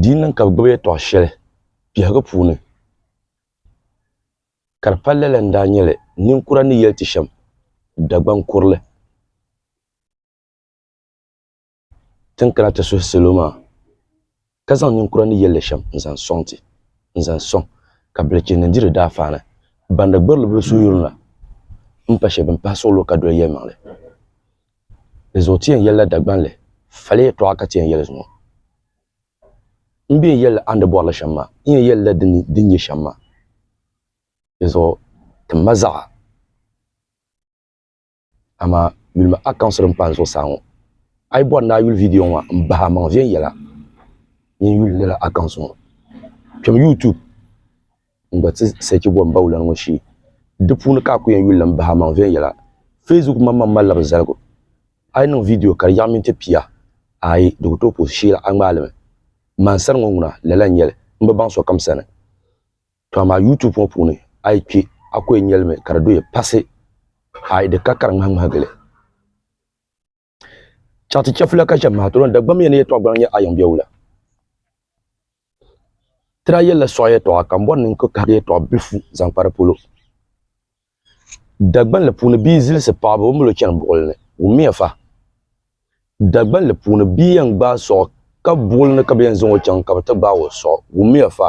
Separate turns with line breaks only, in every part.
Di yi niŋ ka bɛ gbibi yɛtɔɣ shɛli biɛhigu puuni, ka di palila la n-daa nyɛ li, ninkura ni yɛli ti shɛm, Dagbaŋ kurili ti ni kana ti suhi salo maa, ka zaŋ ninkura ni yɛli li shɛm n-zaŋ sɔŋ ti, n-zaŋ sɔŋ ka bilichini ni di di daafaana bandi gbirili bila suhuyurina m-pa shɛba bɛn pahi suɣulo ka doli yɛlimaŋli. N zuɣu ti yɛn yɛlila Dagbanli, fali yɛtɔɣa ka ti yɛn yɛli zuŋɔ. M be n yɛlila a ni di bɔrili shɛm maa, n yɛn yɛlila di ni di nya shɛm maa. Di zuɣu tim ma zaɣa, amaa yuli ma accounts din pahi n zuɣusaa ŋɔ. A yi bɔri ni a yuli video ŋɔ maa, m bahi a maŋ viɛnyɛla mini yuli lala accounts ŋɔ. Kpɛm YouTube. n gba ti search gom bawulana ŋɔ shee di puuni ka a ku yɛn yuli n bahi amaŋ viɛnyɛla facebook maŋmaŋ malila bi zaligu a yi niŋ video ka di yaɣi miniti pia ayi di ku tooi puhi shee la a ŋmaai limi mansari ŋɔ ŋuna lala n nyɛli n bi baŋ sokam sani to amaa youtube ŋɔ puuni a yi kpɛ a ku yɛn nyɛlimi ka di doya pasi ayi di ka ka di ŋmahi ŋmahi gili Chati chɛfula ka shɛb maha tɔlɔn Dagbamia ni yɛtɔɣ gbaŋ nyɛ ayiŋ biɛwula. Ti daa yɛlila sɔɣi yɛtɔɣa ka m bɔri ni n ku kahigi yɛtɔɣ bilifu zaŋ kpa di polo. Dagbanli puuni bia zilisi paɣibu o milo chani buɣili ni. Wummiya fa! Dagbanli puuni bia yɛn gbaai sɔɣi ka buɣili ni ka bɛ yɛn zaŋ o chaŋ ka bɛ ti gbaai o sɔɣi. Wummiya fa!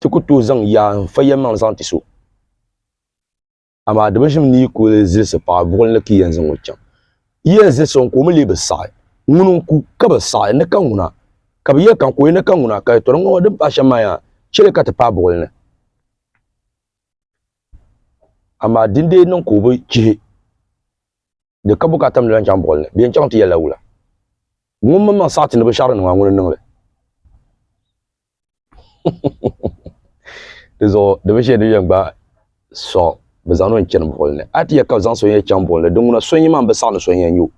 ti ku tooi zaŋ yaa n fa yɛlimaŋli zaŋ ti so amaa di bi ʒim ni yi kuli zilisi paɣa buɣuli ni ka yɛn zaŋ o chaŋ yi yɛn zilisi o ka o mi lee bi saɣi ŋuni n ku ka bi saɣi ni ka ŋuna ka bi yɛli ka n ku ni ka ŋuna ka yɛtɔri ŋɔ din pahi shɛm maa yaa chɛli ka ti paai buɣuli ni amaa dindee niŋ ka o bi chihi di ka bukaata mini lan chaŋ buɣili ni, bɛ yɛn chaŋ ti yɛlila wula? Ŋun mini maŋ saɣi ti ni binshɛɣu din niŋ maa, ŋuni n-niŋ li? Di zuɣu di binshɛli din yɛn gbaai sɔŋ, bɛ zaŋ ni o yɛn chani buɣili ni. A ti yɛli ka bɛ zaŋ so yɛn chaŋ buɣili ni, din ŋuna so n-yi maa m-bi saɣi ni so yɛn nya o.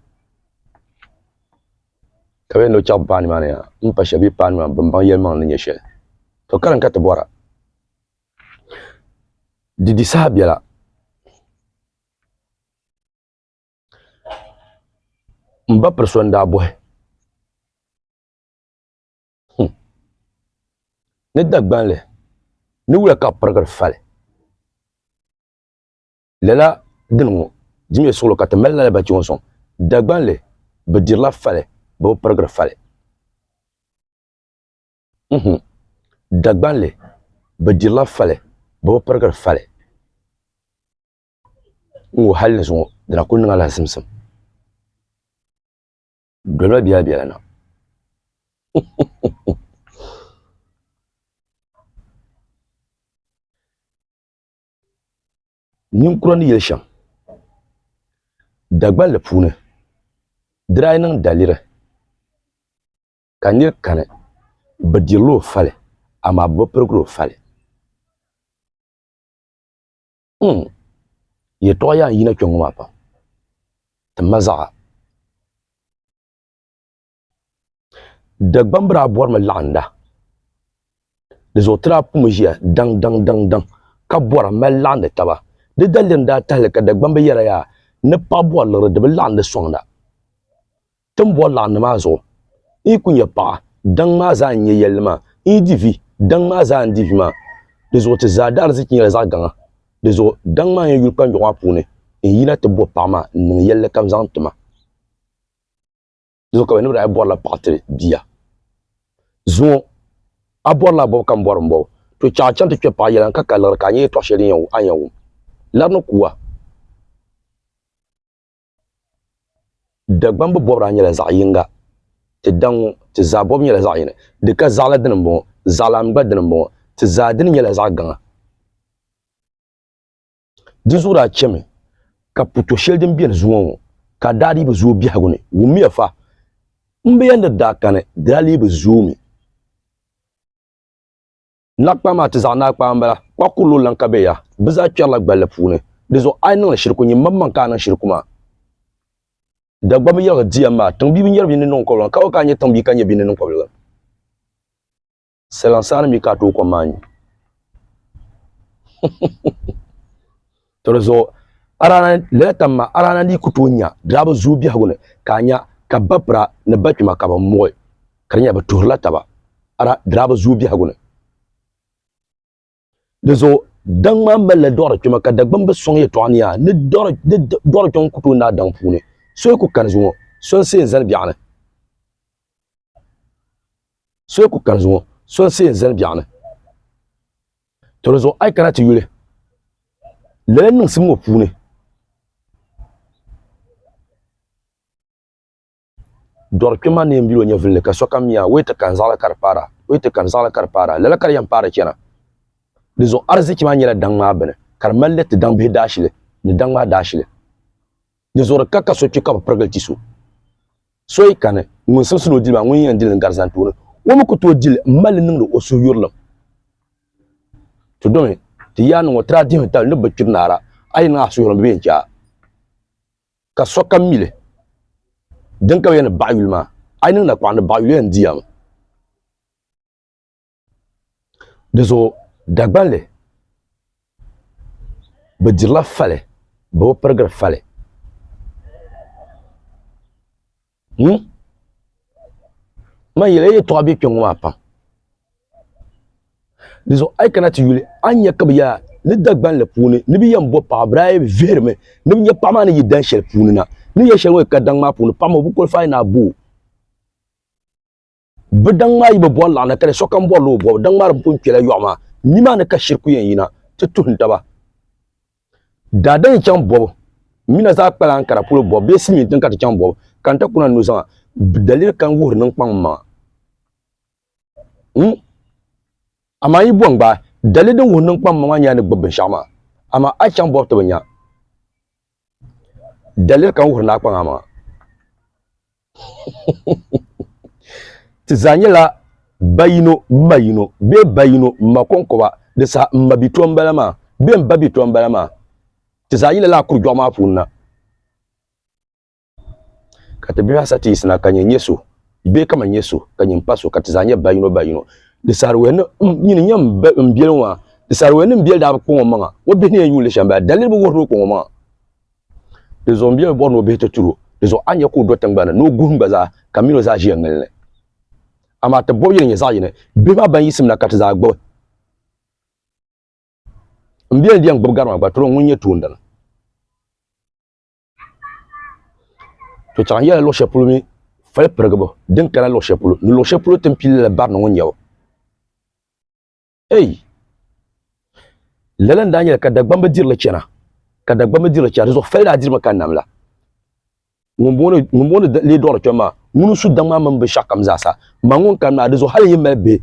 Ka bɛ yɛn ni o chaɣi paani maa ni yaa, m pa shɛli bee paani maa bɛ ni baŋ yɛlimaŋli ni nyɛ shɛli. To karim ka ti bɔra, di di saha bela? M ba piri so n-daa bɔhi hmm. ni Dagbanli ni wula ka pirigiri fali lala dini ŋɔ dimiya suɣilo ka ti mali lala bachi ŋɔ sɔŋ Dagbanli bi dirila fali bɛ bi pirigiri fali hmm. Dagbanli bi dirila fali bɛ bi pirigiri fali N ŋɔ hali ni zuŋɔ di na kuli niŋ alahisimsim dolima bela bela na huhuhuhu. Ninkura ni yeli shem Dagbanli puuni di daa niŋ daliri ka niri kani bɛ dirila o fali amaa bɛ bi pirigili o fali. mm. yɛtɔɣa yaa yina kpɛŋŋɔ maa pam ti ma zaɣa dagbambira a bɔrimi laɣinda di zuɣu ti daa pumi ʒiya daŋ daŋ daŋ daŋ ka bɔra mali laɣindi taba di daliri n daa tahili ka dagbambi yɛra yaa ni paɣa bɔri liɣiri di bi laɣindi sɔŋda Tin bɔri laɣim ni maa zuɣu, n yi ku nya paɣa daŋ maa zaa n nya yɛlli maa, n yi di vi daŋ maa zaa n di vi maa, di zuɣu ti zaa daarzichi nyɛla zaɣ gaŋa. Di zuɣu daŋ maa n yɛn yuli kpanjɔɣu maa puuni n yina ti bɔ paɣa maa n-niŋ yɛlli kam zaŋ ti ma. Di zuɣu ka bɛ ni daa bɔrila paɣa tiri bia zuŋɔ, A bɔri laa bɔbu ka m bɔri m-bɔbu, to chɛ a chaŋ ti kpe paɣa yɛla n-ka ka liɣiri ka a nya yɛtɔɣ shɛli din a ni yɛn wum la di ni ku a. Dagbambu bɔbiraa nyɛla zaɣ yiŋga. Ti daŋ ŋɔ, ti zaa bɔbu nyɛla zaɣ yini. Di ka zaɣila dini m-bɔŋɔ, zaɣilam gba dini m-bɔŋɔ. Ti zaa dini nyɛla zaɣ gaŋa. Di zuɣu daa chɛmi ka puto shɛli din beni zuŋɔ ŋɔ, ka a daa dii bi zooi biɛhigu ni. Wummiya fa! M bi yɛn ni daa kani, di daa lee bi zooi mi. Naɣikpaɣu maa ti zaɣ naɣikpaɣu m-bala, kpah kurili o lan ka bɛ ya. Bɛ zaa kpɛrila gballi puuni. Di zuɣu a yi niŋ li shiriku, nyin maŋmaŋ ka a niŋ shiriku maa. Dagbamba yɛligu di yɛn maa, tiŋbia bi nyari bia ni niŋkɔbiligan, ka o ka a nyɛ tiŋbia ka nyɛ bia ni niŋkɔbiligan, saliŋ saani mi ka a tooi kom maa nyu. To di zuɣu lɛtam ma arana ni ku tooi nya diriba zuyu biɛhigu ni ka a nya ka bapira ni bakpima ka bɛ muɣi ka di nyɛla bɛ tuhirila taba diriba zuyu biɛhigu ni. Di zuɣu daŋ maa malila dɔɣiri kpɛma ka Dagbamba sɔŋ yɛtɔɣa ni yaa ni dɔɣiri kpɛŋɔ ku tooi naai daŋ puuni so yi ku kani zuŋɔ so n-see n-zani biɛɣu ni. To di zuɣu a yi kana ti yuli lala niŋsim ŋɔ puuni dɔri kpɛ ma neen bilo nyɛ vinli ka sokam mi a o yi ti kani zaɣila ka di paara o yi ti kani zaɣila ka di paara lala ka di yɛn paari chɛna di zuɣu ariziki maa nyɛla daŋ maa bini ka di mali li ti daŋ bihi daashili ni daŋ maa daashili Di zuɣuri ka ka so kpi ka bi pirigili ti so. So yi kani ŋun siɣisi ni o dili maa, ŋun yɛn dili n gari zantooni, o mi ku tooi dili m mali li niŋdi o suhuyurilim. Ti domi ti yaa niŋ o tira dihim tali ni bi kpiri naara, a yi niŋ a suhuyurilim bɛ yɛn chɛ a. Ka sokam mi li. Din ka bi yɛli ni baɣa yuli maa, a yi niŋ nakɔɣu ni baɣa yuli yɛn di ya mi. Di zuɣu Dagbanli bi dirila fali bɛ bi pirigiri fali hmm? man yɛla yɛtɔɣa bɛ kpɛŋŋo maa pam di zuɣu a yi kana ti yuli a nyɛ ka bi yaa ni Dagbanli puuni ni bi yɛn bo paɣa bira yi vihirimi ni bi nyɛ paɣa maa ni yi dan shɛli puuni na ni yɛ shɛli ŋo yi ka daŋ maa puuni paɣa maa o bi kɔlifaai ni a boo bi daŋ maa yi bi bɔri laɣana kali sokam bɔrila o bɔbu daŋ maa di pun kpɛla yɔɣu maa nimaani ka shiriku yɛn yina ti tuhim taba daadam yi chaŋ bɔbu mina zaa kpala n kara polo bɔbu bee silimiin tiŋ ka ti chaŋ bɔbu ka n ta kuna nu zaŋa daliri kan wuhiri niŋ kpaŋ maŋa hmm? amaa yi bɔn gbaai daliri din wuhiri niŋ kpaŋ maŋa maa nyɛla ni gbubi binshɛɣu maa amaa a chaŋ bɔbu ti bi nya daliri kan wuhiri naa kpaŋa maŋa Ti zaa nyɛla ba yino ma yino bee ba yino ma kɔŋkɔba di saha m ma bi tɔm bala maa bee m ba bi tɔm bala maa ti zaa yila laa kurujɔɣu maa puuni na ka ti bihi asa ti yisina ka nyɛ nyɛ so bee ka ma nyɛ so ka nyɛ m pa so ka ti zaa nyɛ ba yino ba yino di saariwɛhi ni nyini nyɛ m biɛli ŋɔ maa di saariwɛhi ni m biɛli daa bi kɔŋɔ maŋa o bihi ni yɛn yuun li shɛm bala daliri bi wuhiri o kɔŋɔ maŋa Di zuɣu m-bia bi bɔri ni o bihi ti turi o. Di zuɣu a ni nya ka o do tiŋgbani ni o guhim gba zaa, ka min o zaa ʒiya ŋili ni. Amaa ti bɔbi yi ni nyɛ zaɣ yini, bihi maa ban yiɣisim na ka ti zaa gbubi. M bia ni bɛn gbubi gari maa gba, tiri o ŋun nyɛ toondana. To chɛɣu n-yɛli luɣ shɛli polo mi fali pirigibu din kana luɣ shɛli polo, ni luɣ shɛli polo ti ni pili lala barina ŋɔ n-nyɛ o. ei lala n daa nyɛla ka dagbamba dirili chɛna ka dagbamba dirili chɛna dinzuɣu fali daa dirimi ka nam la ŋun booni lee duɣiri kpɛm maa ŋuni su daŋ maa mini binshaɣu kam zaasa ma ŋun kani maa dinzuɣu hali yi mali bihi